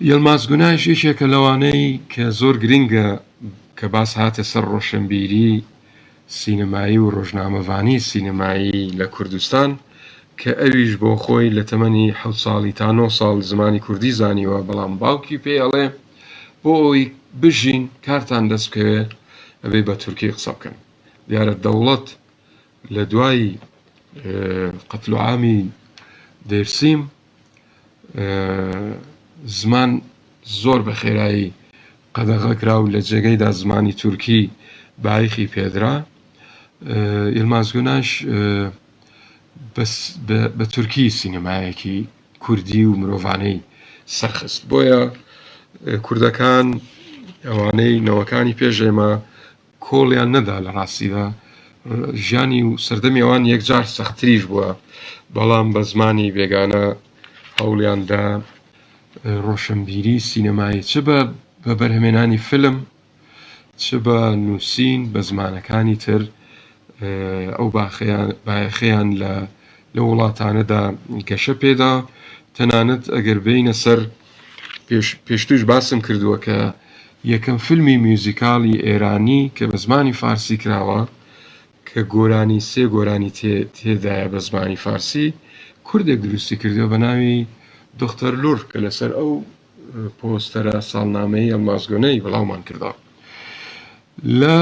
یلماز گوناش یەکێکە لەوانەی کە زۆر گرنگە کە باس هاتە سەر ڕۆشنبیری سینەمایی و ڕۆژنامەڤانیی سینەمایی لە کوردستان کە ئەویش بۆ خۆی لە تەمەنی حەوت ساڵی تا نۆ ساڵ زمانی کوردی زانیوە بەڵام باوکی پێی ئەڵێ بۆ ئەوەی بژین کارتان دەست بکەوێ ئەبێ بە تورکی قسە بکەن دیارە دەوڵەت لە دوای قەتلوعامی دێرسیم زمان زۆر بە خێرایی قەدەغە کرا و لە جێگەیدا زمانی تورکی بایەخی پێدرا. یلماز گوناش بە تورکی سینەمایەکی کوردی و مرۆڤانەی سەرخست. بۆیە کوردەکان ئەوانەی نەوەکانی پێش ئێمە، کۆڵیان نەدا لە ڕاستیدا ژیانی و سەردەمی ئەوان یەکجار سەختتریش بووە، بەڵام بە زمانی بێگانە هەوڵیان دا ڕۆشنبیری سینەمایی چ بە بەرهەمێنانی فیلم چ بە نووسین بە زمانەکانی تر ئەو بایەخەیان لە لەو وڵاتانەدا گەشە پێدا، تەنانەت ئەگەر بێینە سەر. پێشتریش باسم کردووە کە یەکەم فیلمی میوزیکاڵی ئێرانی کە بە زمانی فارسی کراوە کە گۆرانی سێ گۆرانی تێدایە بە زمانی فارسی کوردێک دروستی کردوە بە ناوی دختەر لور کە لەسەر ئەو پۆستەرە ساڵنامەی ئەڵمازگۆنەی بڵاومان کردەوە لە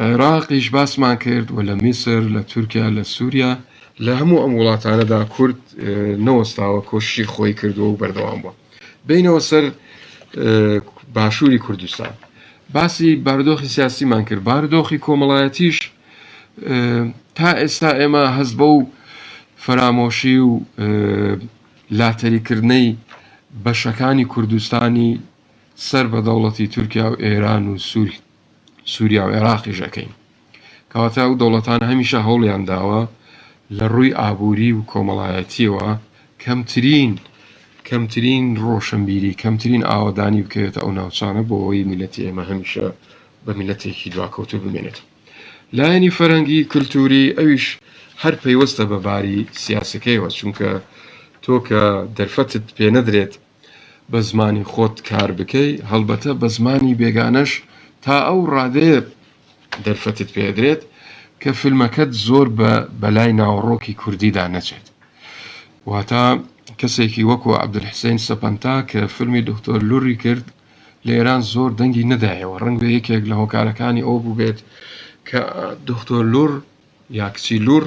عێراقیش باسمان کرد و لە میسر لە تورکیا لە سووریا لە هەموو ئەم وڵاتانەدا کورد نەوەستاوە کۆششی خۆی کردووە و بەردەوام بووە بینەوە سەر باشووری کوردستان باسی باردۆخی سیاسیمان کرد باردۆخی کۆمەڵایەتیش تا ئێستا ئێمە هەز بە و فەرامۆشی و لاتەریکردنەی بەشەکانی کوردستانی سەر بە دەوڵەتی تورکیا و ئێران و سووری سوریا و عێراقیش ئەکەین. کەواتە ئەو دەوڵەتانە هەمیشە هەوڵیان داوە لە ڕووی ئابووری و کۆمەڵایەتیەوە کەمترین کەمترین ڕۆشنبیری کەمترین ئاوەدانی بکەوێتە ئەو ناوچانە بۆ ئەوەی میلەتی ئێمە هەمیشە بە میلەتێکی دواکەوتو بمێنێت لایەنی فەرەنگی کللتوری ئەویش هەر پەیوەستە بە باری سیاسەکەیەوە چونکە تۆ کە دەرفەتت پێ نەدرێت بە زمانی خۆت کار بکەی، هەڵبەتە بە زمانی بێگانەش تا ئەو ڕادەیە دەرفەتت پێدرێت کە فیلمەکەت زۆر بە بەلای ناوەڕۆکی کوردیدا نەچێت. واتە کەسێکی وەکو عەبدولحسەین سەپەنتا کە فیلمی دکتۆر لوڕی کرد لە ئێران زۆر دەنگی نەدایەوە، ڕەنگە یەکێک لە هۆکارەکانی ئەوە بووبێت کە دکتۆر لوڕ یا کچی لوڕ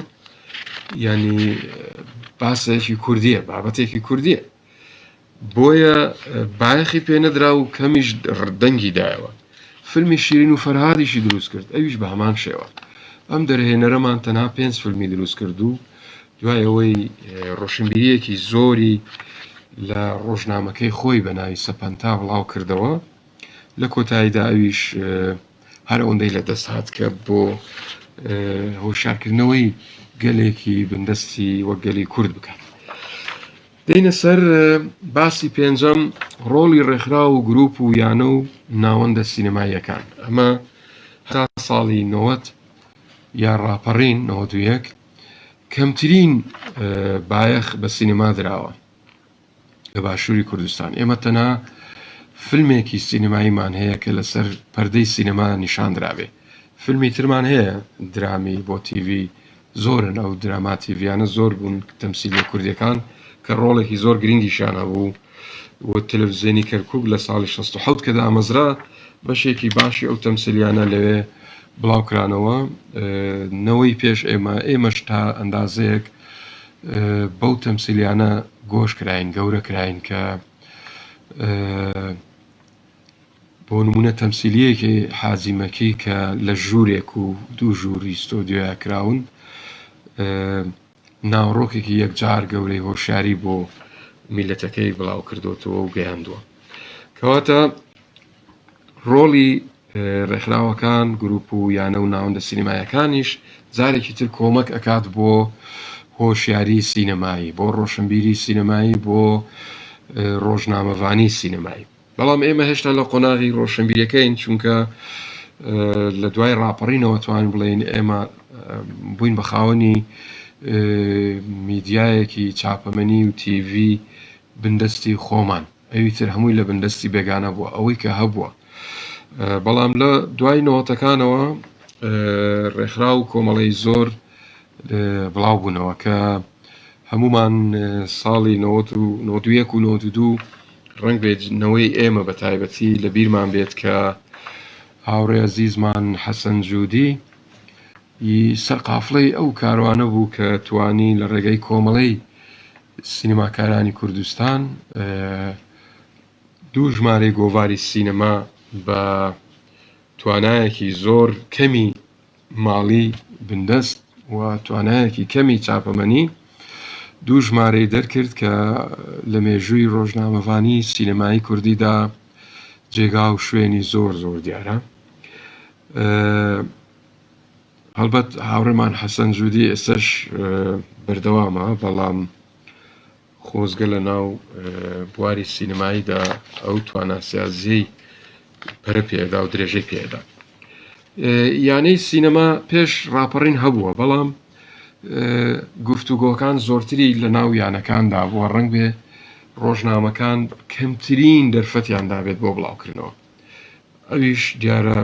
یانی باسێکی کوردییە، بابەتێکی کوردییە. بۆیە بایەخی پێ نەدرا و کەمیش دەنگی دایەوە فیلمی شیرین و فەرهادیشی دروست کرد ئەویش بە هەمان شێوە ئەم دەرهێنەرەمان تەنها پێنج فیلمی دروست کرد و دوای ئەوەی ڕۆشنبیریەکی زۆری لە ڕۆژنامەکەی خۆی بە ناوی سەپەنتا بڵاو کردەوە لە کۆتاییدا ئەویش هەر ئەوەندەی لە دەست هات کە بۆ هۆشارکردنەوەی گەلێکی بندەستی وە گەلی کورد بکات دینە سەر باسی پێنجەم ڕۆڵی ڕێکخرا و گروپ و یانە و ناوەندە سینەماییەکان ئەمە هەرا ساڵی 90 یا ڕاپەڕین 91 کەمترین بایەخ بە سینەما دراوە لە باشووری کوردستان ئێمە تەنها فیلمێکی سینەماییمان هەیە کە لەسەر پەردەی سینەما نیشان درابێ فیلمی ترمان هەیە درامی بۆ تیڤی زۆرن ئەو دراما تیڤیانە زۆر بوون تەمسیلی کوردیەکان کە ڕۆڵێکی زۆر گرنگیشان هەبوو و تەلەڤزیۆنی کەرکک لە ساڵی 16 کە دامەزرا بەشێکی باشی ئەو تەمسلیانە لەوێ بڵاوکرانەوە نەوەی پێش ئێمە ئێمەش تا ئەندازەیەک بەو تەمسیلیانە گۆش کراین گەورە کراین کە بۆ نمونە تەمسیلیەکی حاجی مەکی کە لە ژوورێک و دوو ژووری ستۆدیۆیا کراون ناوڕۆکێکی یەکجار گەورەی هۆشیاری بۆ میلەتەکەی بڵاو کردوتەوە و گەیاندووە کەواتە ڕۆڵی ڕێکخراوەکان، گروپ و یانە و ناوەندە سینەمایەکانیش جارێکی تر کۆمەک ئەکات بۆ هۆشیاری سینەمایی، بۆ ڕۆشنبیری سینەمایی، بۆ ڕۆژنامەڤانی سینەمایی. بەڵام ئێمە هێشتا لە قۆناغی ڕۆشنبیریەکەین چونکە لە دوای ڕاپەڕینەوە توانین بڵێین ئێمە بووین بە خاوەنی میدیایەکی چاپەمەنی و تیڤی بندەستی خۆمان. ئەوی تر هەمووی لە بن دەستی بێگانە بووە ئەوەی کە هەبووە بەڵام لە دوای نەوەتەکانەوە ڕێکخرا و کۆمەڵی زۆر بڵاو بوونەوە کە هەمومان ساڵی 1992 و 92 ڕنگ بێت نەوەی ئێمە بە تایبەتی لە بیرمان بێت کە هاوڕێ زیزمان حەسەن جوودی ی سەرقافڵەی ئەو کاروانە بوو کە توانی لە ڕێگای کۆمەڵەی سینەماکارانی کوردستان دوو ژمارەی گۆڤاری سینەما بە توانایەکی زۆر کەمی ماڵی بندەست و توانایەکی کەمی چاپەمەنی دوو ژمارەی دەرکرد کە لە مێژووی ڕۆژنامەڤانی سینەمایی کوردیدا جێگا و شوێنی زۆر زۆر دیارە. هەڵبەت هاوڕێمان حەسەن جودی ئێستاش بەردەوامە، بەڵام خۆزگە لە ناو بواری سینەماییدا ئەو تواناسازیەی پەرە پێدا و درێژەی پێدا. یانەی سینەما پێش ڕاپەڕین هەبووە، بەڵام گفتوگۆکان زۆرتری لە ناو یانەکاندا بووە، ڕەنگ بێ ڕۆژنامەکان کەمترین دەرفەتیان دابێت بۆ بڵاوکردنەوە، ئەویش دیارە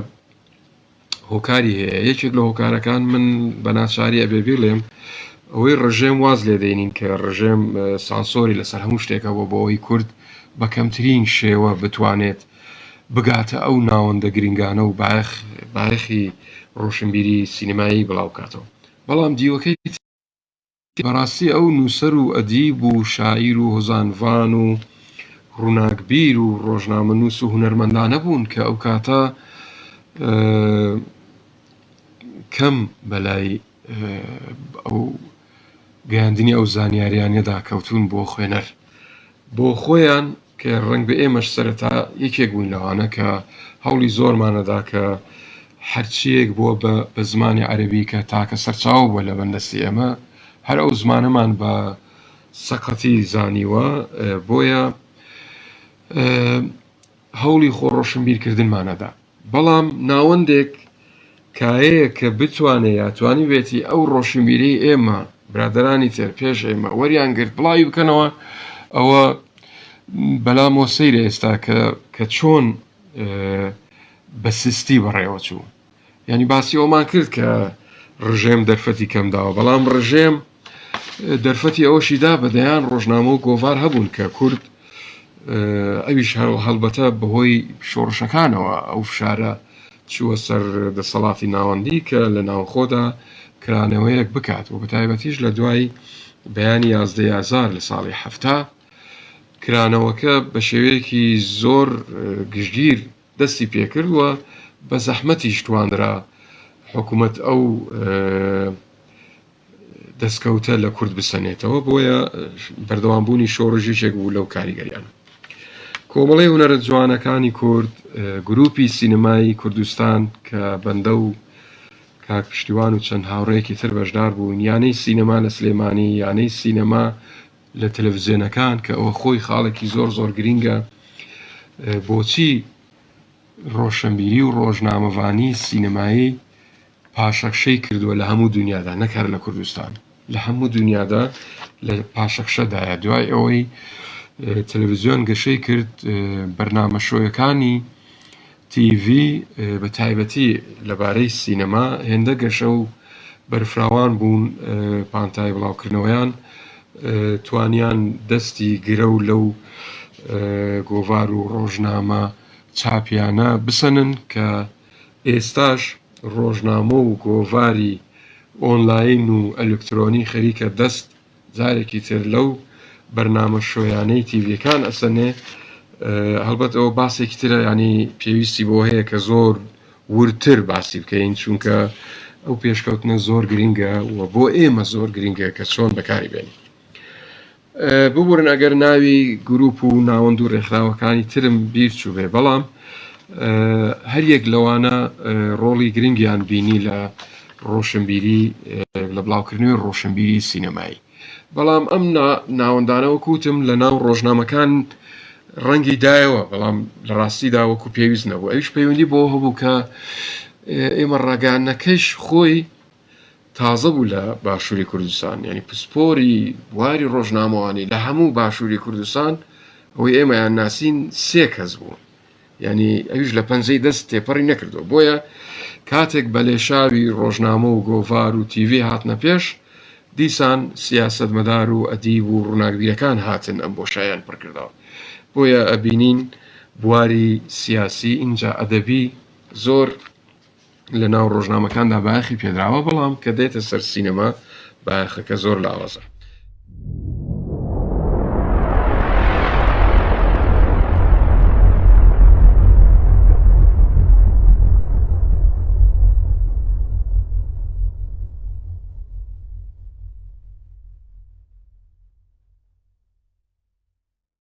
هۆکاری هەیە یەکێک لە هۆکارەکان من بە ناچاری ئەبێ بڵێم ئەوەی ڕژێم واز لێ دەینین کە ڕژێم سانسۆری لەسەر هەموو شتێکە بۆ بۆەوەی کورد بە کەمترین شێوە بتوانێت بگاتە ئەو ناوەندە گرنگانە و بایەخ بایەخی ڕۆشنبیری سینەمایی بڵاوکاتەوە بەڵام دیوەکەی بەڕاستی ئەو نووسەر و ئەدیب و شاعیر و هۆزانڤان و ڕووناکبیر و ڕۆژنامەنووس و هونەرمەندانە بوون کە ئەو کاتە کەم بەلای ئەو گەیاندنی ئەو زانیاریانەدا کەوتوون بۆ خوێنەر بۆ خۆیان کە ڕەنگبێ ئێمەش سەرەتا یەکێک بووین لەوانە کە هەوڵی زۆرمانەدا کە هەرچییەک بووە بە بە زمانی عەرەبی کە تاکە سەرچاوە بووە لە بندەستی ئێمە هەر ئەو زمانەمان بە سەقەتی زانیوە بۆیە هەوڵی خۆ ڕۆشنبیرکردنمانەدا. بەڵام ناوەندێک کایەیە کە بتوانێ یا توانیبێتی ئەو ڕۆشنبیرەی ئێمە، برادەرانی تر پێش ئێمە وەریان گرت بڵاوی بکەنەوە، ئەوە بەلامەوە سەیرە ئێستا کە چۆن بە سستی بەڕێوە چوو. یانی باسی ئەوەمان کرد کە ڕژێم دەرفەتی کەم داوە، بەڵام ڕژێم، دەرفەتی ئەوەشی دا بە دەیان ڕۆژنامە و گۆڤار هەبوون کە کورد ئەویش هەڵبەتە بەهۆی شۆڕشەکانەوە ئەو فشارە چووە سەر دەسەڵاتی ناوەندی کە لە ناوخۆدا کرانەوەیەک بکات و بەتایبەتیش لە دوای بەیانی یازدەی ئازار لە ساڵی حەفتا کرانەوەکە بە شێوەیەکی زۆر گشتگیر دەستی پێکرد و بە زەحمەتیش توانرا حکوومەت ئەو دەستکەوتە لە کورد بسەنێتەوە، بۆیە بەردەوام بوونی شۆڕش یەکێک بوو لەو کاریگەریانە. کۆمەڵەی هونەرە جوانەکانی کورد، گروپی سینەمایی کوردستان کە بەندە و کاک پشتیوان و چەند هاوڕێیەکی تر بەشدار بووین، یانەی سینەما لە سلێمانی، یانەی سینەما لە تەلەفزیۆنەکان کە ئەوە خۆی خاڵێکی زۆر زۆر گرینگە بۆچی ڕۆشەنبیری و ڕۆژنامەڤانی سینەمایی پاشەکشەی کردووە لە هەموو دونیادا نەک هەر لە کوردستان لە هەموو دونیادا لە پاشەکشەدایە دوای ئەوەی تەلەڤزیۆن گەشەی کرد بەرنامە شۆیەکانی تیV بە تایبەتی لەبارەی سینەما هێندە گەشە و بەرفراوان بوون پانتای بڵاوکردنەوەیان توانیان دەستی گرە و لەو گۆڤار و ڕۆژنامە چاپیانە بسەنن کە ئێستاش ڕۆژنامە و گۆڤاری ئۆنلاین و ئەلکترۆنی خەریکە دەست جارێکی تر لەو بەرنامە شۆیانەی تیڤیەکان ئەسەنێ، هەڵبەت ئەوە باسێکی ترە یانی پێویستی بەوە هەیە کە زۆر وردتر باسی بکەین چونکە ئەو پێشکەوتنە زۆر گرینگە و بۆ ئێمە زۆر گرینگە کە چۆن بەکاری بێنین. ببورن ئەگەر ناوی گروپ و ناوەند و رێکخراوەکانی ترم بیر چوبێ بەڵام هەریەک لەوانە رۆڵی گرنگیان بینی لە رۆشنبیری لە بڵاوکردنەوەی رۆشنبیری سینەمایی بەڵام ئەم ناوەندانەوە کوتم لە ناو رۆژنامەکان رەنگی دایەوە بەڵام لە راستی داوەکو پێویست نەبوو ئەوش پەیوەندی بۆ هەبوو کە ئێمە راگەیاندنەکەش خۆی تازە بوو لە باشووری کوردستان یانی پسپۆری بواری ڕۆژنامەوانی لە هەموو باشووری کوردستان ئەوەی ئێمەیان ناسین سێ کەس بوو یعنی ئەویش لە پەنجەی دەست تێپەڕی نەکردو بۆیە کاتێک بە لێشاوی ڕۆژنامە و گۆڤار و تیڤی هاتنە پێش دیسان سیاست مەدار و ئەدیب و ڕووناکبیرەکان هاتن ئەم بۆ شایان پڕکردەوە بۆیە ئەبینین بواری سیاسی ئینجا ئەدەبی زۆر لە ناو ڕۆژنامەکاندا بایەخی پێدراوە بەڵام کە دێتە سەر سینەما بایەخەکە زۆر لاوازە.